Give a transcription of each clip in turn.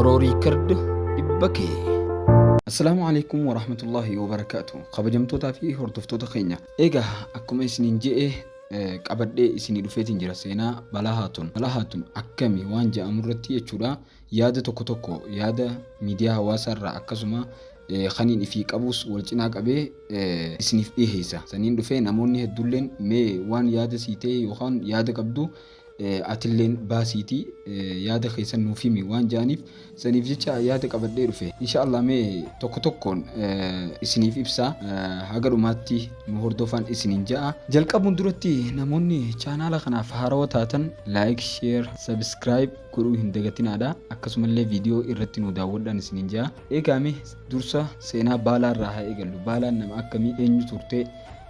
Oro Record dhibba kee. Assalaamu alaikum warahmatullahi wabarakaatu. Kabajamtootaa fi hordoftoota keenya. Egaa akkuma isiniin je'e eh, qabadhee isinii dhufeetiin jira seenaa balaa haatun. Balaa haatun akkami waan je'amu irratti jechuudha. Yaada tokko tokko yaada miidiyaa hawaasaa irraa akkasuma kaniin ifii qabuus wal cinaa qabee isiniif dhiheessa. Saniin dhufee namoonni hedduulleen mee waan yaada sii ta'e yookaan yaada qabdu atilleen baasiitii yaada keessan nuuf himi waan ja'aniif saniif jecha yaada qabadhee dhufe. Insha Allah mee tokko tokkoon isiniif ibsa haga dhumaatti nu hordofaan isiniin ja'a. Jalqabuun duratti namoonni chaanaala kanaaf haarawa taatan like, share, subscribe godhuu hin dagatinaadha. Akkasumallee viidiyoo irratti nu daawwadhaan isiniin jaa. Eegaa mee dursa seenaa baalaa irraa haa eegallu. Baalaan nama akkamii eenyu turte?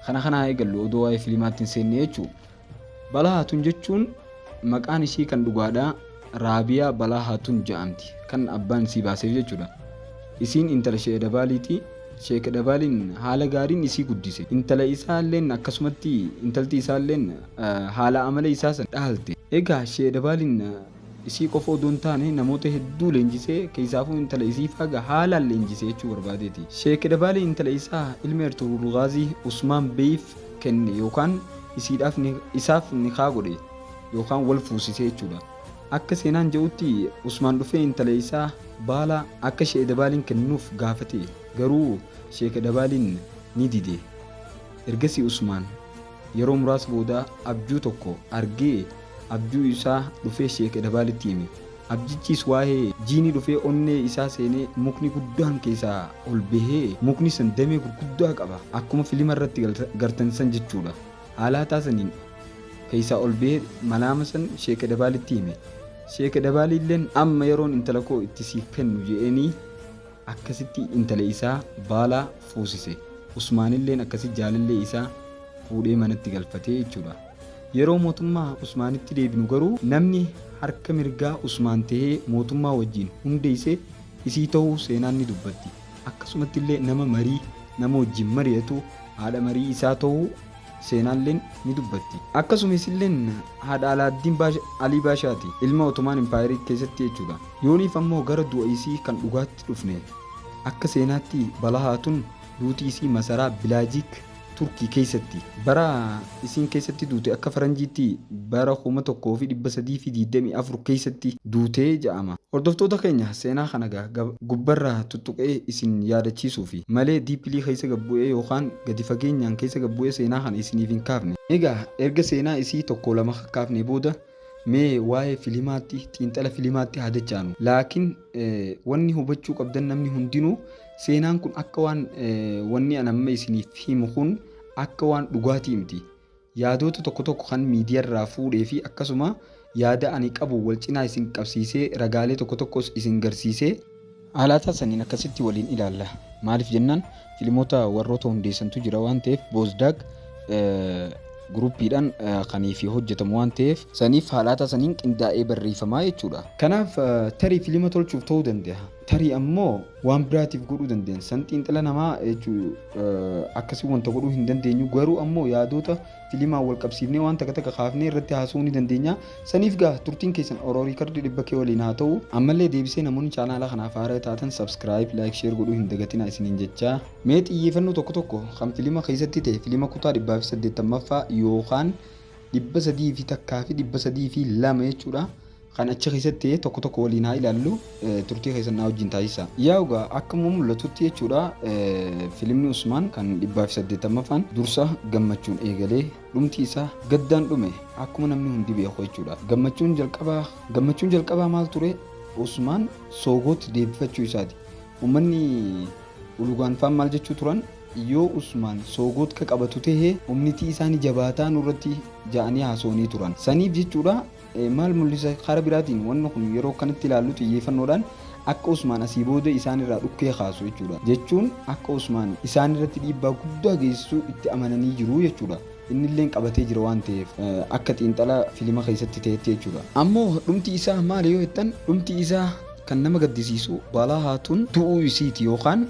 Kana kana haa eegallu odoo waa'ee filimaatti hin seenne jechuu. Balaa Haatun jechuun maqaan ishii kan dhugaadha. Raabiyaa Balaa Haatun ja'amti. Kan abbaan isii baaseef jechuudha. Isiin intala She'ee Dabaaliiti. Sheek Dabaaliin haala gaariin isii guddise. Intala isaalleen akkasumatti intalti isaalleen haala amala isaa san dhaalte. Eegaa Sheek Dabaaliin isii qofa odoo hin taane namoota hedduu leenjisee keessaafuu intala isii faaga haalaan leenjise jechuu barbaadeeti. Sheek Dabaalii intala isaa ilmi Ertugrul Gaazii Usmaan Beeyiif kenne yookaan isiidhaaf isaaf nikaah godhe yookaan wal fuusise jechuudha. Akka seenaan je'utti Usmaan dhufee intala isaa Baalaa akka Sheeh Dabaaliin kenninuuf gaafate, garuu Sheeka Dabaaliin ni dide. Ergasii Usmaan yeroo muraasa booda abjuu tokko argee abjuu isaa dhufee Sheeka Dabaalitti hime. Abjichiis waa'ee jiinii dhufee onnee isaa seenee mukni guddaan keessaa ol bahee mukni san damee gurguddaa qaba akkuma filima irratti gartan san jechuudha. Haala hataa saniin keessaa ol beyee malaama san sheeka dabaalitti hime. Sheeka dabaaliilleen amma yeroon intala koo itti siif kennu je'eenii akkasitti intala isaa baala fuusise. Usmaanilleen akkasi jaalallee isaa fuudhee manatti galfatee jechuudha. Yeroo mootummaa Usmaanitti deebinu garuu namni harka mirgaa Usmaan tahee mootummaa wajjiin hundeeyse isii tahuu seenaan ni dubbatti. akkasumatti illee nama marii nama wajjin mari'atu haadha marii isaa ta'uu seenaalleen ni dubbatti. Akkasumas illeen haadha Alaaddiin Baasha- Alii Baashaati. Ilma Otomaan Impaayerii keessatti jechuudha. Yooniif ammoo gara du'a isii kan dhugaatti dhufne. Akka seenaatti Balahaatun duuti isii masaraa Bilaajiik Turkii keessatti. Bara isiin keessatti duute akka faranjiitti bara 1324 keessatti duute ja'ama. Hordoftoota keenya seenaa kana ga gubbarra tuttuqee isin yaadachiisuufi malee deeply keessa gad bu'ee yookaan gadi fageenyaan keessa gad bu'ee seenaa kana isiniif hin kaafne. Egaa erga seenaa isii tokkoo lama kakkaafnee booda Mee waa'ee filimaatti, xiinxala filimaatti haa dachaanu. Laakiin wanni hubachuu qabdan namni hundinuu seenaan kun akka waan wanni an amma isiniif himu kun akka waan dhugaatii miti. Yaadoota tokko tokko kan miidiyaarraa fuudhee fi akkasuma yaada ani qabu wal cinaa isin qabsiisee ragaalee tokko tokkos isin garsiisee Haalaataa saniin akkasitti waliin ilaalla. Maaliif jennaan filimoota warroota hundeessantu jira waan ta'eef Boozdaag guruuppiidhaan kan fi hojjetamu waan ta'eef saniif haalaataa saniin qindaa'ee barreeffamaa jechuudha. Kanaaf tarii filima tolchuuf ta'uu danda'a. Tarii ammoo waan biraatiif godhuu dandeenya. San xiinxala namaa jechuu akkasii wanta godhuu hin dandeenyu garuu ammoo yaadoota Filimaan wal qabsiifnee waan takka takka kaafnee irratti haasa'uu ni dandeenya. Saniif gaa turtiin keessan Oro Riikardii 100K waliin haa ta'u. Ammallee deebisee namoonni chaanaala kanaaf haaraya taatan subscribe, like, share godhuu hin dagatinaa isiniin jecha. Mee xiyyeefannoo tokko tokko kan filima keessatti ta'e filima kutaa 180ffaa yookaan 300 fi takkaa fi 302 jechuudha. Kan achi keessatti ta'e tokko tokko waliin haa ilaallu, turtii keessan naa wajjin taasisaa. Yaa egaa akkuma mul'atutti jechuudha filimni Usmaan kan dhibbaa fi saddeettammafaan dursa gammachuun eegalee dhumti isaa gaddaan dhume akkuma namni hundi beeku jechuudha. Gammachuun jalqabaa gammachuun jalqabaa maal ture? Usmaan soogootti deebifachuu isaati. Uummanni ulugaan faan maal jechuu turan? Yoo Usmaan soogoot ka qabatu ta'e humnitii isaanii jabaataa nurratti ja'anii haasawanii turan. Saniif jechuudha Maal mul'isa? Karaa biraatiin wanni kun yeroo akkanatti ilaallu xiyyeeffannoodhaan akka Usmaan asii booda isaan irraa dhukkee kaasu jechuudha. Jechuun akka Usmaan isaan irratti dhiibbaa guddaa geessisu itti amananii jiru jechuudha. Inni illeen qabatee jira waan ta'eef akka xiinxala filima keessatti ta'etti jechuudha. Ammoo dhumti isaa maali yoo jettan dhumti isaa kan nama gaddisiisu Balaa Haatun du'uu isiiti yookaan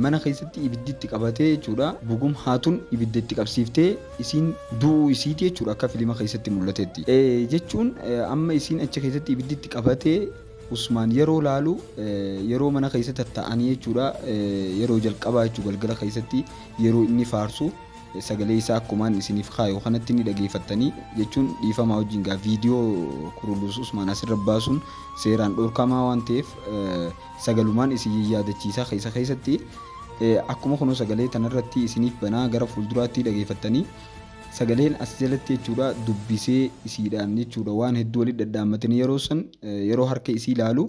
mana keessatti ibiddi itti qabatee jechuudha. Bugum Haatun ibidda itti qabsiiftee isiin du'uu isiiti jechuudha akka filima keessatti mul'atetti. Jechuun amma isiin achi keessatti ibiddi itti qabatee Usmaan yeroo laalu yeroo mana keessa tattaa'anii jechuudha yeroo jalqabaa jechuu galgala keessatti yeroo inni faarsu sagalee isaa akkumaan isiniif kaayu kanatti ni dhageeffattanii jechuun dhiifamaa wajjin gaa viidiyoo kuruluus Usmaan asirra baasuun seeraan dhorkamaa waan ta'eef sagalumaan isin yaadachiisaa keessa keessatti akkuma kunoo sagalee tanarratti isiniif banaa gara fuulduraatti dhageeffattanii sagaleen as jalatti jechuudha dubbisee isiidhaan jechuudha waan hedduu walitti dhadhaammatanii yeroo san yeroo harka isii ilaalu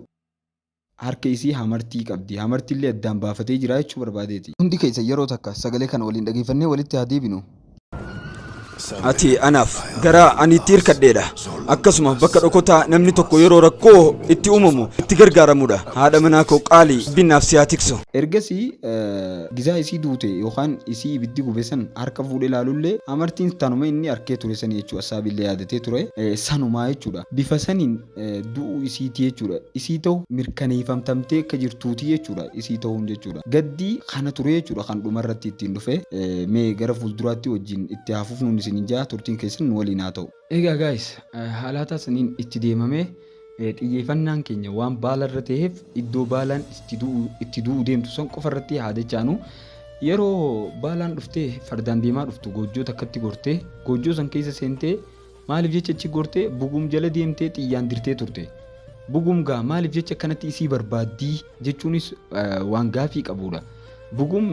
harka isii hamartii qabdi hamartii illee addaan baafatee jira jechuu barbaadeeti. Hundi keessa yeroo takka sagalee kana waliin dhageeffannee walitti haa deebinu. Ati anaaf gara ani itti hirkadheedha. Akkasuma bakka dhokotaa namni tokko yeroo rakkoo itti uumamu itti gargaaramudha. Haadha manaa koo qaalii binnaaf si haa tiksu. Ergasii gizaa isii duute yookaan isii ibiddi gube san harka fuudhee laalullee amartiin tanuma inni arkee ture sani jechuu Assaabille yaadatee ture sanumaa jechuudha. Bifa saniin du'uu isiiti jechuudha. Isii ta'u mirkaneeffamtamtee akka jirtuuti jechuudha. Isii ta'uun jechuudha. Gaddi kana ture jechuudha kan dhuma irratti ittiin dhufe. Mee gara fuulduraatti wajjin itti haa fufnuun isin hin jaa turtiin keessan nu waliin haa ta'u. Egaa guys haalaataa saniin itti deemamee xiyyeeffannaan keenya waan baala irra ta'eef iddoo baalaan itti du'uu deemtu san qofa irratti haa dachaanu. Yeroo baalaan dhuftee fardaan deemaa dhuftu goojjoo takkatti gortee goojjoo san keessa seentee Maaliif jecha achi gortee Bugum jala deemtee xiyyaan dirtee turte? Bugum gaa maaliif jecha akkanatti isii barbaaddii jechuunis waan gaafii qabuudha. Bugum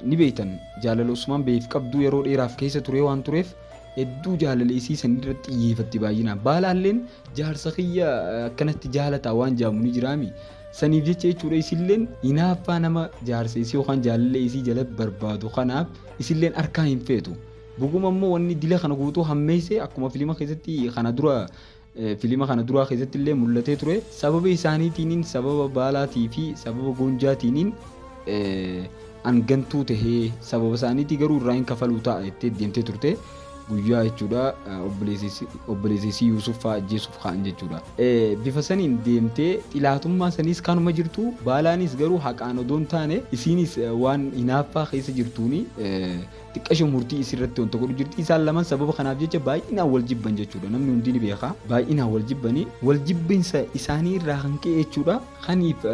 ni beektan jaalala Usmaan Beeyiif qabdu yeroo dheeraaf keessa turee waan tureef hedduu jaalala isii san irratti xiyyeefatti baay'inaan. Baalaalleen jaarsa kiyya akkanatti jaalataa waan jaamu ni jiraami. Saniif jecha jechuudha isilleen hinaaffaa nama jaarsa isii yookaan jaalala isii jala barbaadu kanaaf isilleen harkaa hin feetu. Dhuguma immoo wanni dila kana guutuu hammeeyse akkuma filima keessatti kana dura filima kana duraa keessatti illee mul'atee ture sababa isaaniitiiniin sababa baalaatii fi sababa goonjaatiiniin an gantuu tahee sababa isaaniitii garuu irraa hin kafaluu ta'a jettee deemtee turte guyyaa jechuudha obboleessisii Yuusuf fa'aa ajjeesuuf ka'an jechuudha. Bifa saniin deemtee xilaatummaa saniis kanuma jirtu baalaanis garuu haqaan odoo hin taane isiinis waan hinaaffaa keessa jirtuuni Xiqqasho murtii isii irratti wanta godhu jirti. Isaan lamaan sababa kanaaf jecha baay'inaan wal jibban jechuudha. Namni hundi ni beeka. Baay'inaan wal jibbanii wal jibbinsa isaanii irraa kan ka'e jechuudha. Kaniif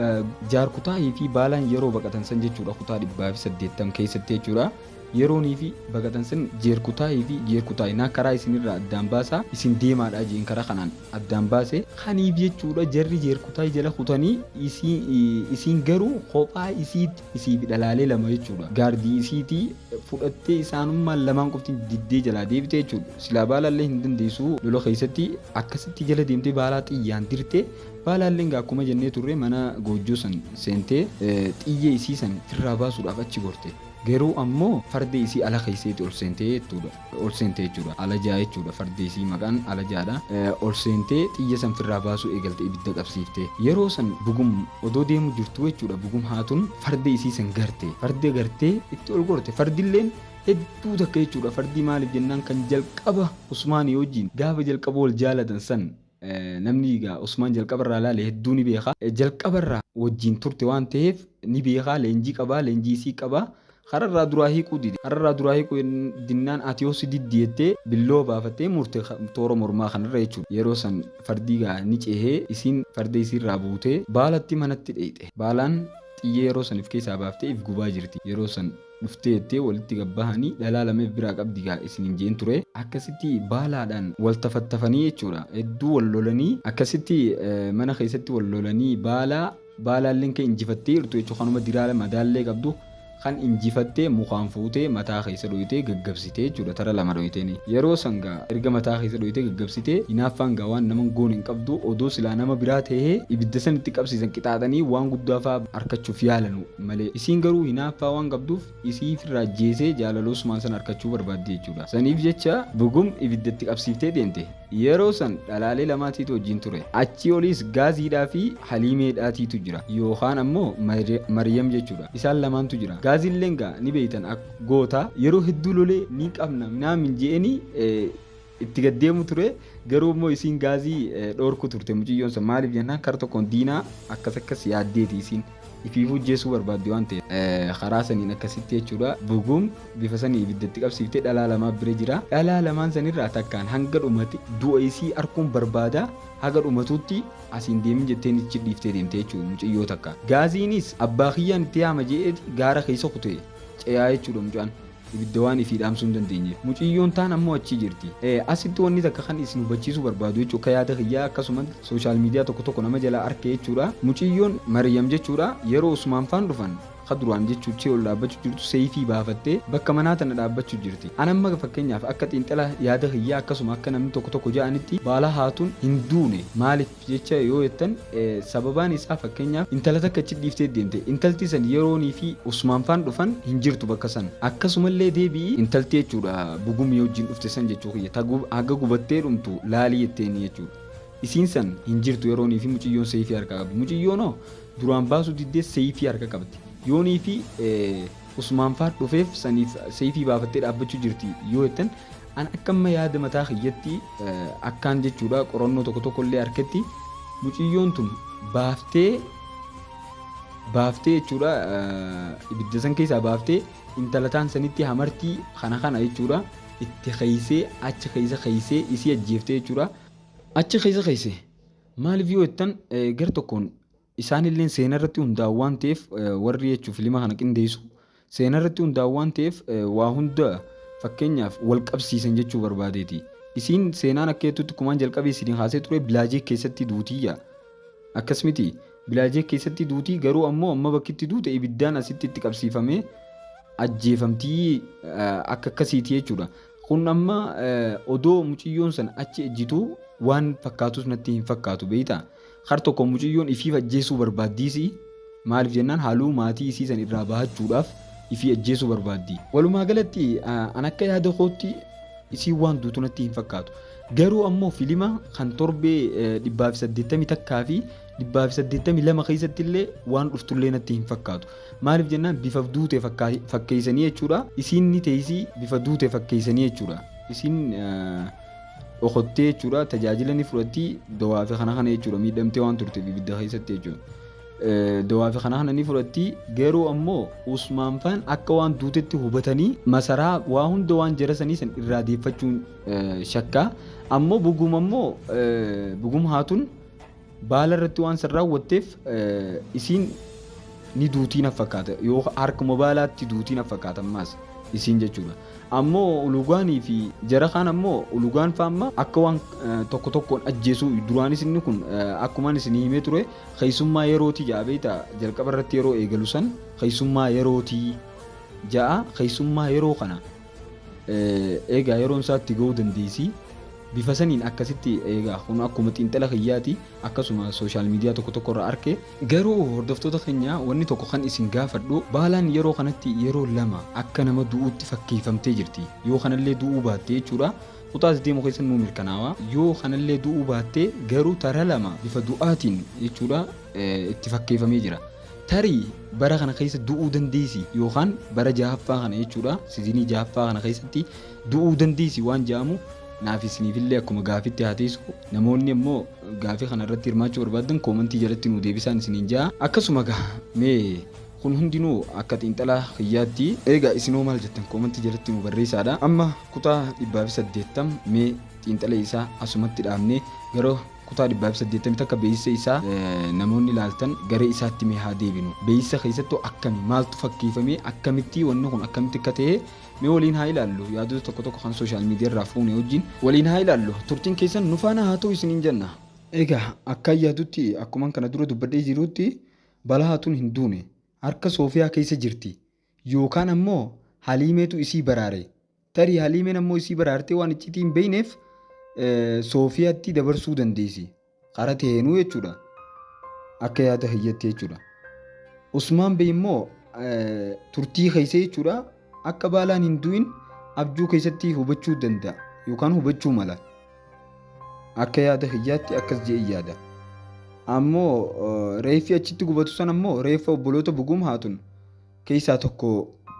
jaarkutaahii fi baalaan yeroo baqatan san jechuudha kutaa dhibbaa fi saddeettam keessatti jechuudha. Yeroonii fi baqatan san jeerkutaahii fi jeerkutaahii naa karaa isinirraa addaan baasaa isin deemaadhaa jeen karaa kanaan addaan baase. Kaniif jechuudha jarri jeerkutaahii jala kutanii isiin garuu kophaa isiitti Isii fi dhalaalee lama jechuudha. Gaardii isiitii fudhattee isaanummaan lamaan qofti diddee jalaa deebite jechuudha. Silaa baalaallee hin dandeessu lola keessatti akkasitti jala deemtee baalaa xiyyaan dirtee baalaalleen gaa akkuma jennee turre mana goojjoo san seentee xiyyee isii san firraa baasuudhaaf achi gorte. Garuu ammoo farda isii ala keesseeti ol seentee jechuudha. ol seente jechuudha. Alajaa jechuudha fardi isii maqaan alajaadha. Ol seentee xiyya san firraa baasuu eegalte ibidda qabsiifte. Yeroo san bugum odoo deemu jirtuu jechuudha bugum haatun farda isii san garte. Farda gartee itti ol gorte fardilleen hedduu takka jechuudha fardii maaliif jennaan kan jalqaba Usmaanii wajjiin gaafa jalqaba wal jaalatan san Namni egaa Usmaan jalqaba irraa ilaale hedduu ni beeka. Jalqaba irraa wajjiin turte waan taheef ni beeka, leenjii qaba, leenjii isii qaba. Hara irraa duraa hiiquu dide. Hara irraa duraa hiiquu dinnaan ati yoo si diddi jettee billoo baafattee murte toora mormaa kana irra jechuu dha. Yeroo san fardi egaa ni cehee isiin farda isii irraa buutee baalatti manatti dheyxe. Baalaan xiyyee yeroo san if keessaa baaftee if gubaa jirti. Yeroo san. dhuftee jettee walitti gad bahanii dhalaa lama if biraa qabdi gaa isiniin je'een ture. Akkasitti baalaadhaan wal tafattafanii jechuudha. Hedduu wal lolanii akkasitti mana keessatti wal lolanii baala baalaalleen kan injifattee jirtu jechuudha. Kanuma diraala madaallee qabdu kan injifattee mukaan fuutee mataa keessa dhoyitee gaggabsitee jechuudha. Tara lama dhoyiteen. Yeroo san gaa erga mataa keessa dhoyitee gaggabsitee hinaaffaan gaa waan naman goone hin qabdu odoo silaa nama biraa ta'ee ibidda san itti qabsiisan qixaaxanii waan guddaa fa'aa arkachuuf yaalanu. malee. Isiin garuu hinaaffaa waan qabduuf isii ifirraa ajjeesee jaalala Usmaan san arkachuu barbaaddi jechuudha. Saniif jecha Bugum ibidda itti qabsiiftee deemte. Yeroo san dhalaalee lamaa tiitu wajjiin ture. Achii oliis Gaaziidhaa fi Haliimee dhaa tiitu jira. Yookaan ammoo Maryam jechuudha. Isaan lamaantu jira. Gaazilleen gaa ni beeytan akka goota yeroo hedduu lolee ni qabna minaamin je'eenii itti gad deemu ture garuu immoo isiin gaazii dhoorku turte muciyyoon san maaliif jennaan kara tokkoon diinaa akkas akkas yaaddeeti isiin ifiifuu jeesuu barbaaddi waan ta'eef karaa saniin akkasitti jechuudha buguum bifa sanii ibiddatti qabsiiftee dhalaa lamaa bira jira dhalaa lamaan sanirraa takkaan hanga dhumate du'a isii arkuun barbaada haga dhumatuutti asiin deemin jetteen ichi dhiiftee deemte jechuudha muciyyoo takka gaaziinis abbaa kiyyaan itti yaama je'eeti gaara keessa kutee ce'aa jechuudha mucaan ibidda waan ifii dhaamsuu hin dandeenyeef. Muciyyoon taan ammoo achii jirti. Asitti wanni takka kan isin hubachiisuu barbaadu jechuudha akka yaada kiyyaa akkasumatti social media tokko tokko nama jalaa arke jechuudha. Muciyyoon Maryam jechuudha yeroo Usmaan faan dhufan ka duraan jechuu Cheol dhaabbachu jirtu Seeyfii baafattee bakka manaa tana dhaabbachu jirti. An amma fakkeenyaaf akka xiinxala yaada kiyyaa akkasuma akka namni tokko tokko ja'anitti Baala Haatun hin duune maalif? jecha yoo jettan sababaan isaa fakkeenyaaf intala takka achi dhiiftee deemte intalti san yeroonii fi usmaan faan dhufan hin jirtu bakka san akkasumallee deebi'i intalti jechuudha bugumii wajjin dhufte san jechuu kiyya ta haga gubattee dhumtu laalii jetteeni jechuudha isiin san hin jirtu yeroonii fi muciyyoon seeyfii harkaa qabdi muciyyoon hoo duraan baasuu diddee seeyfii harka qabdi yoonii fi usmaan faan dhufeef saniif seeyfii baafattee dhaabbachuu jirti yoo jettan An akka amma yaada mataa kiyyatti akkaan jechuudha qorannoo tokko tokko illee harketti muciyyoon tun baaftee baaftee jechuudha ibidda san keessaa baaftee intalataan sanitti hamartii kana kana jechuudha itti keeysee achi keeysa keeysee isii ajjeeftee jechuudha achi keeysa keeyse maaliif yoo jettan gar tokkoon Isaanilleen seenarratti hundaa'u waan ta'eef warri jechuun filima kana qindeessu seenarratti hundaa'u waan ta'eef waa hunda fakkeenyaaf wal qabsiisan jechuu barbaadeeti. Isiin seenaan akka jettutti kumaan jalqabee isin kaasee ture bilaajee keessatti duutiyya. Akkas miti bilaajee keessatti duutii garuu ammoo amma bakkitti duute ibiddaan asitti itti qabsiifamee ajjeefamtii akka akkasiiti jechuudha. Kun amma odoo muciyyoon san achi ejjituu waan fakkaatus natti hin fakkaatu beeyta. Har tokko muciyyoon ifiif ajjeesuu barbaaddiisi. Maaliif jennaan haluu maatii isii san irraa bahachuudhaaf ifii ajjeesuu barbaaddi. Walumaa galatti an akka yaada kootti isiin waan duutu natti hin fakkaatu. Garuu ammoo filima kan torbee dhibbaa fi saddeettamii takkaa fi Dhibbaa fi saddeettamii lama keessatti illee waan dhuftullee natti hin fakkaatu. Maaliif jennaan bifa duute fakkaa- fakkeessanii jechuudha. Isiin ni teessii bifa duute fakkeessanii jechuudha. Isiin eh, dhokottee jechuudha tajaajila ni fudhatti dawaa fi kana kana jechuudha miidhamtee waan turteef ibidda keessatti jechuudha. Eh, Dawaa fi kana kana ni fudhatti garuu ammoo Usmaan faan akka waan duutetti hubatanii masaraa waa hunda waan jara sanii san irraa deeffachuun eh, shakkaa. Ammoo buguma ammoo eh, bugum haatun Baala irratti waan san raawwatteef isiin ni duutii na fakkaata yoo harkuma baalaatti duutii na fakkaata ammaas isiin jechuudha. Ammoo ulugaanii fi jara kaan ammoo ulugaan faamma akka waan tokko tokkoon ajjeesuu duraanis inni kun akkumaan isinii himee ture keessummaa yerootii ja'a beekta jalqaba irratti yeroo eegalu san keessummaa yerootii ja'a keessummaa yeroo kana Eegaa yeroon isaa itti ga'uu dandeessi. Bifa saniin akkasitti eegaa kun akkuma xiinxala kiyyaati akkasuma sooshaal miidiyaa tokko tokko irraa arke. Garuu hordoftoota keenya wanni tokko kan isin gaafadhu baalaan yeroo kanatti yeroo lama akka nama du'uutti fakkeeffamtee jirti. Yoo kanallee du'uu baatte jechuudha. Kutaa as deemu keessan nuu mirkanaawa. Yoo kanallee du'uu baatte garuu tara lama bifa du'aatiin jechuudha. itti fakkeeffamee jira. Tarii bara kana keessa du'uu dandeessi yookaan bara jahaffaa kana jechuudha sizinii jahaffaa kana keessatti du'uu dandeessi waan jedhamu naaf isiniifillee akkuma gaafitti haa teessu namoonni immoo gaafii kana irratti hirmaachuu barbaadan koomantii jalatti nuu deebisaan isiniin ja'a akkasuma gaa mee kun hundinuu akka xiinxalaa kiyyaatti eegaa isinoo maal jettan koomantii jalatti nuu barreessaadha amma kutaa dhibbaa fi saddeettam mee xiinxala isaa asumatti dhaabnee gara Kutaa 180 takka beeysa isaa namoonni laaltan gara isaatti mee haa deebinu. Beeysa keessattuu akkami? Maaltu fakkeeyfamee? Akkamitti wanni kun akkamitti akka ta'e mee waliin haa ilaallu. Yaadota tokko tokko kan social media irraa fuune wajjin waliin haa ilaallu. Turtiin keessan nu faana haa ta'u isiniin jenna. Egaa akkaan yaadutti akkuman kana dura dubbadhee jirutti Balahaatuun hin duune. Harka Soofiyaa keessa jirti. Yookaan ammoo Haliimeetu isii baraare. Tarii Haliimeen ammoo isii baraartee waan iccitii hin beeyneef Soofiyatti dabarsuu dandeessi. Karaa taheenuu jechuudha. Akka yaada hiyyatti jechuudha. Usmaan Bey immoo turtii keessa jechuudha akka baalaan hin du'in abjuu keessatti hubachuu danda'a yookaan hubachuu mala. Akka yaada hiyyaatti akkas je'ee yaada. Ammoo reeffi achitti gubatu san ammoo reeffa obboloota buguum haatun keessaa tokko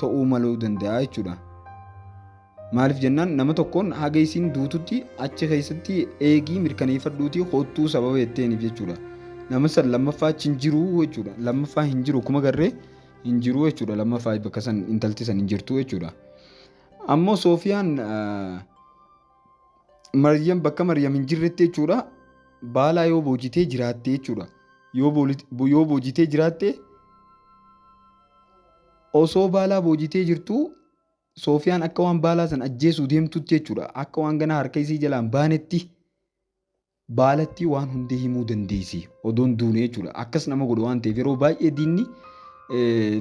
ta'uu maluu danda'a jechuudha. Maaliif jennaan nama tokkoon haga isiin duututti achi keessatti eegii mirkaneeffadhuutii hoottuu sababa jetteeniif jechuudha. Nama san lammaffaa achi hin jiru jechuudha. Lammaffaa hin jiru kuma garree hin jiru jechuudha. Lammaffaa bakka san intalti san hin jirtu jechuudha. Ammoo Soofiyaan Maryam bakka Maryam hin jirretti jechuudha baalaa yoo boojitee jiraatte jechuudha. Yoo booli- bo- yoo boojitee jiraatte osoo baalaa boojitee jirtuu Soofiyaan akka waan baalaa san ajjeesuu deemtutti jechuudha. Akka waan ganaa harka isii jalaan baanetti Baalattii waan hundee himuu dandeessi odoon duune jechuudha. Akkas nama godha waan ta'eef yeroo baay'ee diinni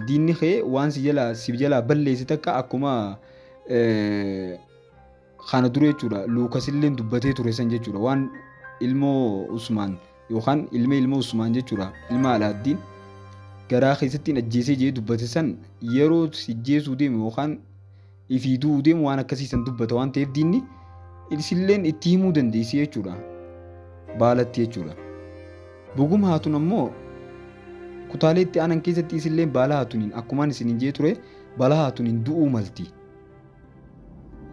diinni kee waan si jalaa si jalaa balleessi takka akkuma kana dura jechuudha luukasilleen dubbatee ture san jechuudha waan ilmoo usmaan yookaan ilma ilmoo usmaan jechuudha ilma alaaddiin garaa keessatti hin ajjeesee jee dubbate san yeroo si jeesuu deemu yookaan ifii du'uu deemu waan akkasii san dubbata waan ta'eef diinni isilleen itti himuu dandeessi jechuudha. Baalatti jechuudha. Bugum haatun ammoo kutaalee itti aanan keessatti isilleen baala haatuniin akkumaan isin hin jee ture baala haatuniin du'uu malti.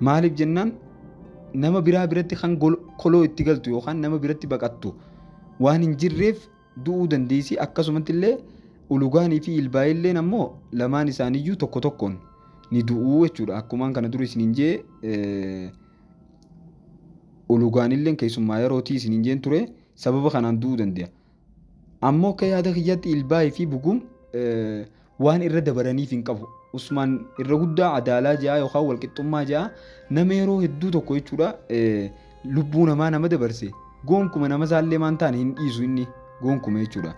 Maaliif jennaan nama biraa biratti kan koloo itti galtu yookaan nama biratti baqattu waan hin jirreef du'uu dandeessi. Akkasumatti illee ulugaanii fi ilbaa'ee illeen ammoo lamaan isaaniiyyuu tokko tokkoon ni du'uu jechuudha. Akkumaan kana dura isiniin jee ulugaan illeen keessummaa yerootii isiniin jeen ture sababa kanaan du'uu danda'a. Ammoo akka yaada kiyyaatti ilbaa'ee fi buguum Waan irra dabaraniif hin qabu. Usmaan irra guddaa adaalaa ja'a yookaan walqixxummaa ja'a nama yeroo hedduu tokko jechuudha lubbuu namaa nama dabarse goonkuma nama isaallee maan taane hin dhiisu inni goonkuma jechuudha.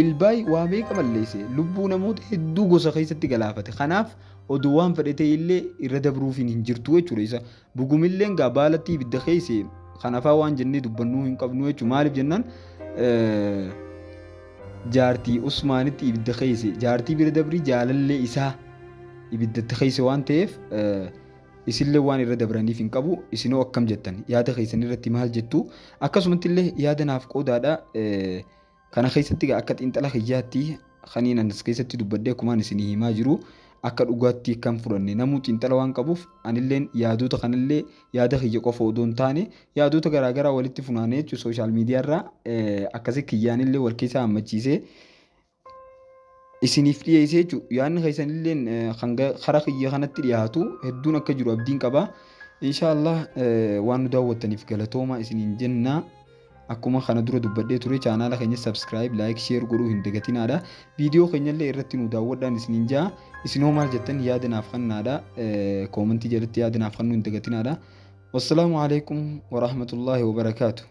Ilbaay waa meeqa balleesse lubbuu namoota hedduu gosa keessatti galaafate kanaaf odoo waan fedhe ta'e illee irra dabruufiin hin jirtu jechuudha isa Gugumilleen gaa baalatti ibidda keeyse kan afaa waan jennee dubbannuu hin qabnu jechuun maaliif jennaan jaartii Usmaanitti ibidda keeyse jaartii bira dabrii jaalallee isaa ibiddatti keeyse waan ta'eef isinillee waan irra dabraniif hin qabu isinoo akkam jettan yaada keessan irratti maal jettu akkasumatti illee yaada naaf qoodaadha Kana keessatti egaa akka xiinxala kiyyaatti kaniin anis keessatti dubbadhee akkumaan isinii himaa jiru akka dhugaatti kan fudhanne namuu xiinxala waan qabuuf anilleen yaadoota kanallee yaada kiyya qofa odoo hin taane yaadoota garaagaraa walitti funaanee jechuun sooshaal miidiyaarraa akkasii kiyyaanillee wal keessaa hammachiisee isiniif dhiyeessee jechuudha. Yaadni keessanilleen kan karaa kiyya kanatti dhiyaatu hedduun akka jiru abdiin qaba. Inshaallah waan nu daawwattaniif galatooma isiniin jenna. Akkuma kana dura dubbadhee ture chaanaala keenya subscribe, like, share godhuu hin dagatinaadha. Viidiyoo keenyallee irratti nu daawwadhaan isiniin ja'a. Isin hoo maal jettan yaada naaf kennaadha. Koomentii jalatti yaada naaf kennuu hin dagatinaadha. Wassalaamu alaikum wa rahmatullahi wa barakaatuh.